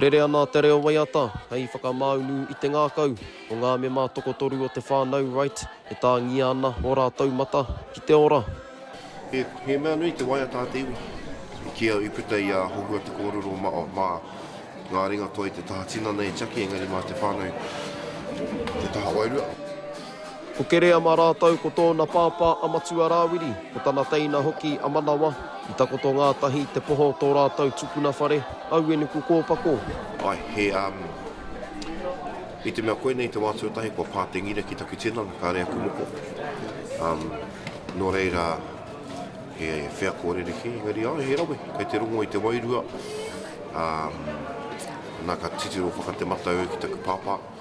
Rere ana te reo waiata hei whakamāunu i te ngākau o ngā mema tokotoru o te whānau Wright e tāngia ana ō rātou mata ki te ora. He mea nui te waiata a te iwi. I kī au i puta i a Hohua te kōrero mā ngā ringatoi te taha tinana e tiaki engari mā te whānau te taha wairua. Ko Kereama rātou ko tōna pāpā a Matua Rāwiri, ko tana teina hoki a Manawa, i takoto ngātahi te poho tō rātou tupuna whare, aue nuku kōpako. Ae, he, um, i te mea koinei te wā tuatahi kua pā te ngira ki taku tinana, kāre aku moko. Um, nō reira, he wheako rerekē, engari ae, he rawe, kei te rongo i te wairua, um, nā ka titiro whakatemata au ki taku pāpā.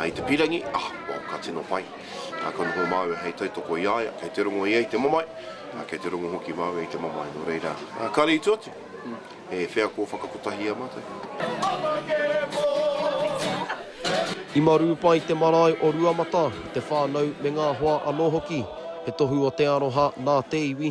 I te pīrangi, ah, well, ka tino pai. Ka noho māua hei tautoko i a ia, kei te rongo ia i te mamae, kei te rongo hoki māua i te mamae, nō reira, kāre i tua atu, he wheako whakakotahi i a mātou. I marū pai te marae o Ruamata, te whānau me ngā hoa anō hoki. He tohu o te aroha nā te iwi.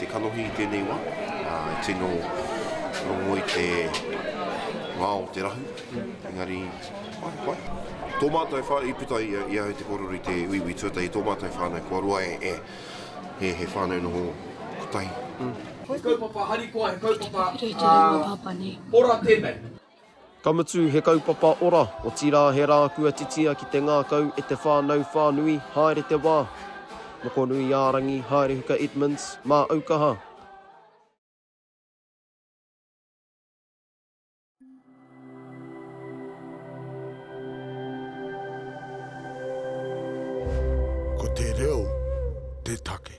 Te kanohi i tēnei wā, e tino rongo i te ngā o te rahu, engari, whai, whai. Tō mātou whānau, i puta i ahau te kōrero i te uiui tuatahi, tō mātou whānau kua roa e, e, he whānau noho kotahi. He kaupapa harikoa, he kaupapa ora tēnei. Ka mutu, he kaupapa ora, otirā he rā kua titia ki te ngākau e te whānau whānui, haere te wā. Mokonui-ā-rangi, Haerehuka Edmonds, mā Aukaha. Ko te reo te take.